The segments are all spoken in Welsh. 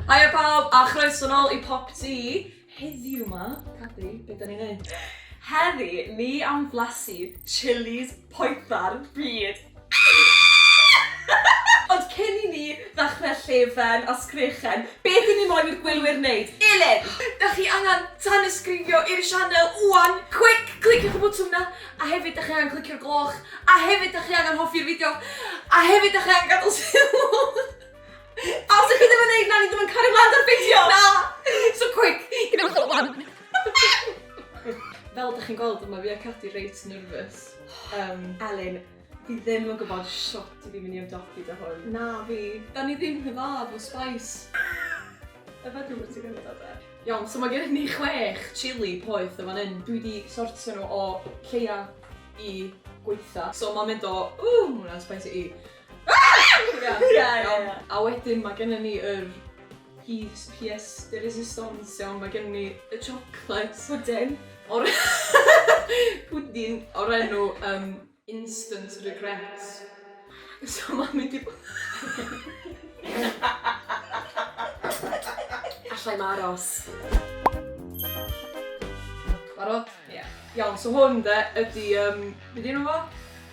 Haia pawb a chroeso nôl i Pop Tee. Heddiw 'ma, Cabi, be' 'dan ni'n neud? Heddi ni am flasu chillis poetha'r byd! Ond cyn i ni ddechrau llefen a sgrechen, beth ry'n ni moyn i'r gwylwyr wneud? Elin! Dach chi angen tanysgrifio i'r sianel ŵan! Quick! Cliciwch y botwm 'na! A hefyd dach chi angen clicio'r gloch! A hefyd dach chi angen hoffi'r fideo! A hefyd dach chi angen gadael sylw! A os dach chi ddim yn wneud 'na, ni ddim yn cario mlaen 'da'r fideo! Na! So quick! Gwnewch o ŵan! Fel dach chi'n gweld, mae fi a Cadi reit nervous. Um, Elin, fi ddim yn gwybod shwt i fi mynd i ymdopi da hwn. Na fi. Da ni ddim yn dda efo spice. Efe dwi'n bwysig yn gwybod e. Iawn, so mae gen ni chwech chili poeth yn fan hyn. Dwi wedi sortio nhw o lleia i gweitha. So mae'n mynd o, ww, hwnna'n spicy i. Ah! Ia, ia, ia. A wedyn mae gen ni yr Piece pièce de résistance iawn mae gen i. Y chocolate pwdin o'r pwdin o'r enw um, instant regrets. So mae'n mynd i bod... Alla i'm aros. Barod? Ie. Iawn, so hwn de ydi um, be di enw fo?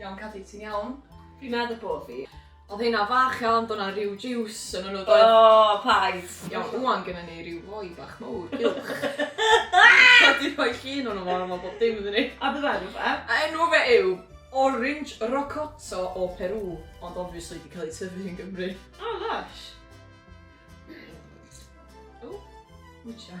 Iawn Cadi, ti'n iawn? Fi'n meddwl bo fi. Oedd hynna fach iawn, bod na rhyw juice yn hwnnw doedd? O, paid! Iawn, wwan gyda ni rhyw foi bach mowr, uwch. Oedd di rhoi llun o'n o'n o'n o'n o'n dim iddyn ni. A dy enw fe? A enw fe yw Orange Rocotto o Peru, ond obviously di cael ei tyfu yn Gymru. O, lush! O, mwtio.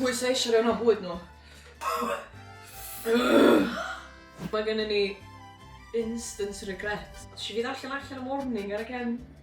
Pwy sy eisiau rhan o bwyd nhw? Mae gennym ni instant regret. Nes i fynd allan allan y morning ar y cefn.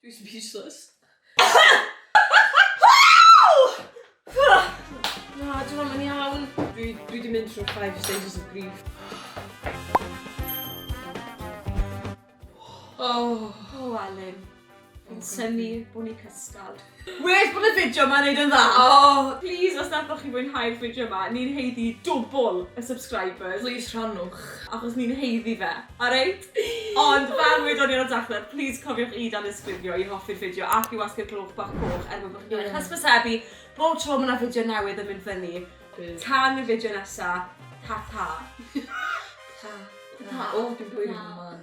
Dwi speechless. Na, dwi'n am yn iawn. Dwi, dwi di mynd trwy five stages of grief. Oh. Oh, Alun. Yn symu bwn i cysgod. Wes bod y fideo ma'n neud yn dda. Oh. Please, os nathoch chi fwynhau'r fideo ma, ni'n heiddi dwbl y subscribers. Please rhannwch. Achos ni'n heiddi fe. Alright? Ond fel wedon ni ar y dechrau, plis cofiwch i danysgrifio i hoffi'r fideo ac i wasgu'r gloch bach coch er mwyn bod chi'n cael eich hysbysebu bob tro mae 'na fideo newydd yn mynd fyny. Tan y fideo nesa, ta ta. Ta ta. O, dwi'n bwyd yn fy mhen.